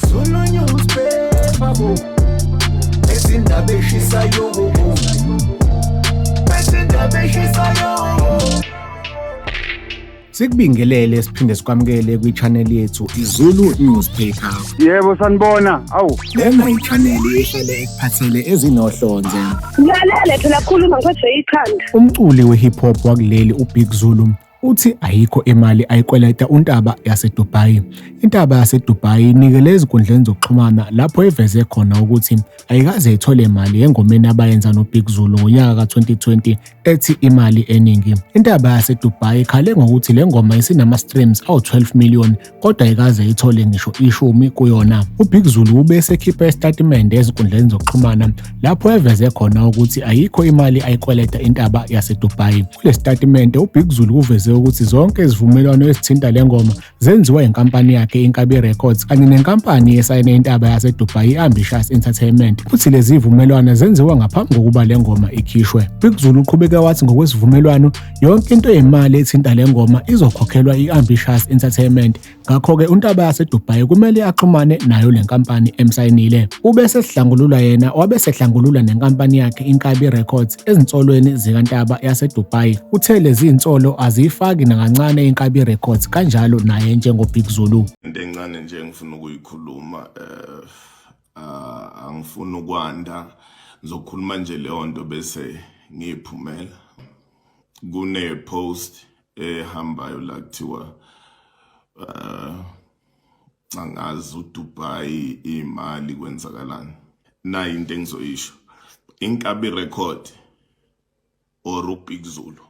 Zulu newspaper bo Ezindaba eshisayo bo Ezindaba eshisayo Sikubingelele siphinde sikwamukele kwi-channel yethu iZulu Newspaper. Yebo sanibona. Awu. Lena i-channel ehlele ekuphathele ezinohlonze. Ngilalele phela khuluma ngiphethe ikhanda. Umculi we-hip hop wakuleli uBig Zulu Uthi ayikho imali ayikweleta uNtaba yaseDubai. INtaba yaseDubai inikele ezinkundleni zokuxhumana lapho iveze khona ukuthi ayikaze ithole mali engomeni abayenza noBig Zulu ngonyaka ka-2020 ethi imali eningi. INtaba yaseDubai ikhale ngokuthi le ngoma isinama-streams awu-12 million kodwa ayikaze ithole ngisho ishumi kuyona. UBig Zulu ube esekhipha isitatimende ezinkundleni zokuxhumana lapho eveze khona ukuthi ayikho imali ayikweleta intaba yaseDubai. Kule sitatimende uBig Zulu uveze ukuthi zonke izivumelwano ezithinta le ngoma zenziwa inkampani yakhe Inkabi Records kanye nenkampani esayine intaba yaseDubai i-Ambitious Entertainment. Uthi lezi zivumelwano zenziwa ngaphambi kokuba le ngoma ikhishwe. Big Zulu uqhubeke wathi ngokwesivumelwano Yonke into yemali ethinta le ngoma izokhokhelwa i-Ambitious Entertainment, ngakho-ke uNtaba yaseDubai kumele axhumane nayo le nkampani emsayinile. Ube sesihlangulula yena wabe sehlangulula nenkampani yakhe Inkabi Records ezinsolweni zikaNtaba yaseDubai. Uthe lezi zinsolo aziyifaki nakancane Inkabi Records kanjalo naye njengoBig Zulu. Into encane nje engifuna ukuyikhuluma eh ah, angifuni ukwanda ngizokhuluma nje leyo nto bese ngiyiphumela kune-post ehambayo la kuthiwa um angazi udubai iy'mali kwenzakalani nayi into engizoyisho inkabi record or ubig zulu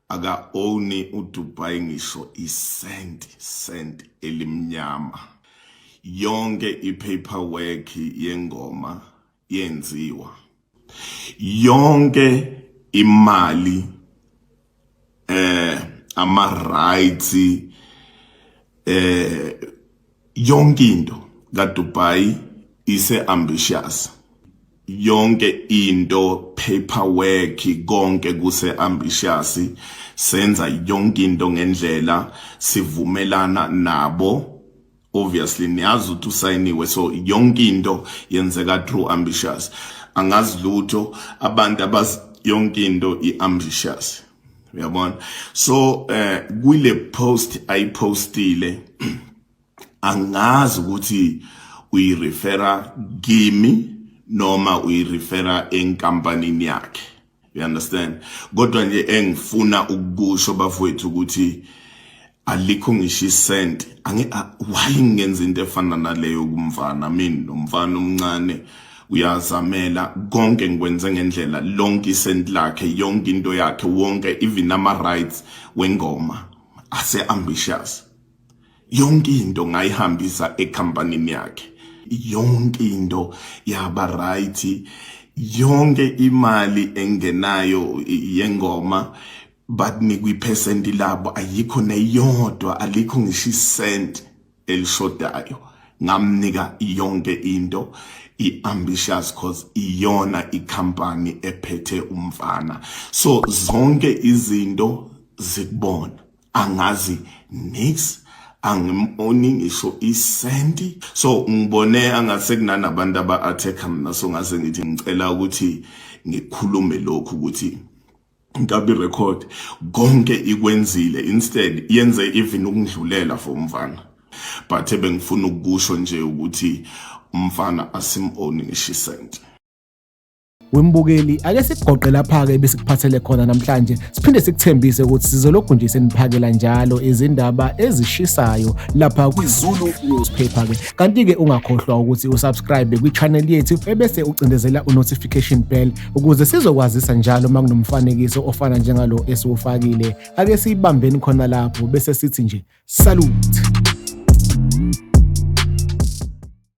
aka owni udubai ngisho isenti senti elimnyama yonke ipaperwork yengoma yenziwa yonke imali eh ama rights eh Yonke into kaDubai ise ambitious. Yonke into paperwork konke kuse ambitious. Senza yonke into ngendlela sivumelana nabo obviously niyazi ukuthi usayiniwe so yonke into yenzeka through ambitious angazi lutho abantu abaz yonke into i-ambitious uyabona so eh kule post ayipostile angazi ukuthi uyirefera kimi noma uyirefera enkampanini yakhe you understand kodwa nje engifuna ukukusho bafowethu ukuthi alikho ngisho isenti ange why ngenza into efana naleyo kumfana mina nomfana omncane uyazamela konke ngikwenze ngendlela lonke isenti lakhe yonke into yakhe wonke even ama rights wengoma ase ambitious yonke into ngayihambisa ecompany yakhe yonke into yaba right yonke imali engenayo yengoma but nikwiphesenti labo ayikho neyodwa alikho ngisho isenti elishodayo ngamnika yonke into i-ambitious cause iyona ikhampani ephethe umfana so zonke izinto zikubona angazi nix angimoni ngisho isenti so ngibone angase kunanabantu aba-attack mina so ngase ngithi ngicela ukuthi ngikhulume lokhu ukuthi Nkabi record konke ikwenzile instead yenze even ukungidlulela for umfana but bengifuna ukusho nje ukuthi umfana asim own ngisho isent wembukeli ake sikugoqe lapha-ke besikuphathele khona namhlanje siphinde sikuthembise ukuthi sizolokhu nje seniphakela njalo izindaba ezishisayo lapha kwizulu newspaper-ke kanti-ke ungakhohlwa ukuthi usubscribe kwi-channel yethu ebese ucindezela u-notification bell Ukuze sizokwazisa njalo uma kunomfanekiso ofana njengalo esiwufakile, ake siyibambeni khona lapho bese sithi nje salute.